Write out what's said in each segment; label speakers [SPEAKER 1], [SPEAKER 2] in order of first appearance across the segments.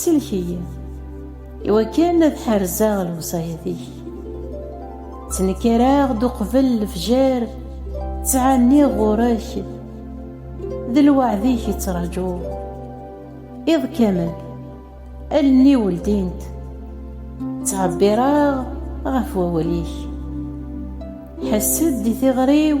[SPEAKER 1] Sellek-iyi iwakken ad ḥerzeɣ lewṣayat-ik. Ttnekkareɣ-d uqbel lefjer, ttɛenniɣ ɣur-k, d lweɛd-ik i ttrajuɣ. Iḍ kamel, allen-iw ldint, ttɛebbireɣ ɣef wawal-ik. Ḥess-d i tiɣri-w.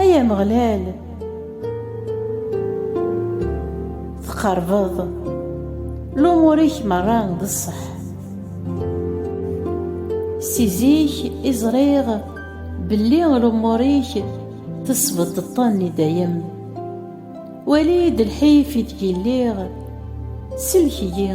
[SPEAKER 1] Ay Ameɣlal, teqerbeḍ lumur-ik merra d ṣṣeḥ. Si zik i ẓriɣ belli lumur-ik tesbeddeḍ-ten i dayem. Wali-d lḥif ideg i lliɣ, sellek-iyi.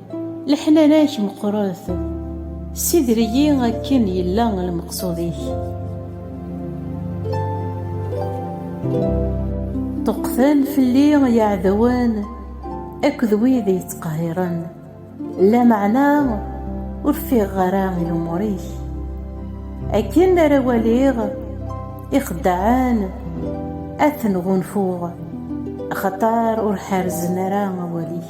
[SPEAKER 1] Leḥnana-k meqqret, ssider-iyi akken yella lmeqsud-ik. Ṭṭuqten fell-i yeɛdawen akked wid yettqehhiren, lameɛna ur ffiɣeɣ ara i lumuṛ-ik. Akken ara waliɣ ixeddaɛen, ad ten-ɣunfuɣ, axaṭer ur ḥerrzen ara awal-ik.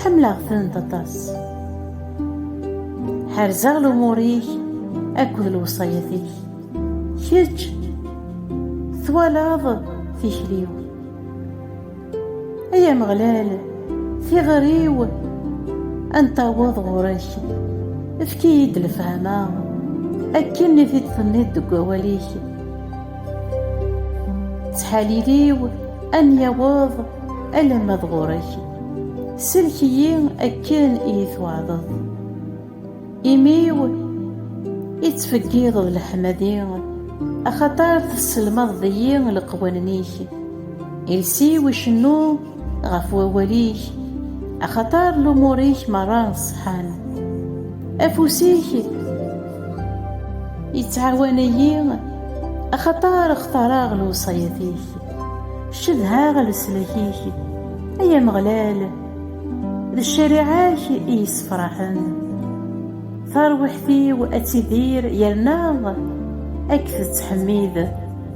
[SPEAKER 1] Ḥemmleɣ-tent aṭas. Ḥerzeɣ lumur-ik akked lewṣayat-ik. Kečč twalaḍ tikli-w. Ay Ameɣlal, tiɣri-w ad n-taweḍ ɣur-k. Efk-iyi-d lefhama akken i t-id-tenniḍ deg wawal-ik. ttḥalil-iw am yaweḍ alamma d ɣur-k sellek-iyi akken i yi-twaɛdeḍ imi-w ittfeggiḍeḍ leḥmadi axaṭer tesselmadeḍ-iyi leqwanen-ik iles-iw icennu ɣef wawal-ik, axaṭer lumuṛ-ik meṛṛa ṣeḥḥan. Afus-ik yettɛawan-iyi, axaṭer xtaṛeɣ lewṣayat-ik. Cedhaɣ leslak-ik, ay Ameɣlal, d ccariɛa-k i yessefṛaḥen. Taṛwiḥt-iw ad tidir yerna ad k-tettḥemmid.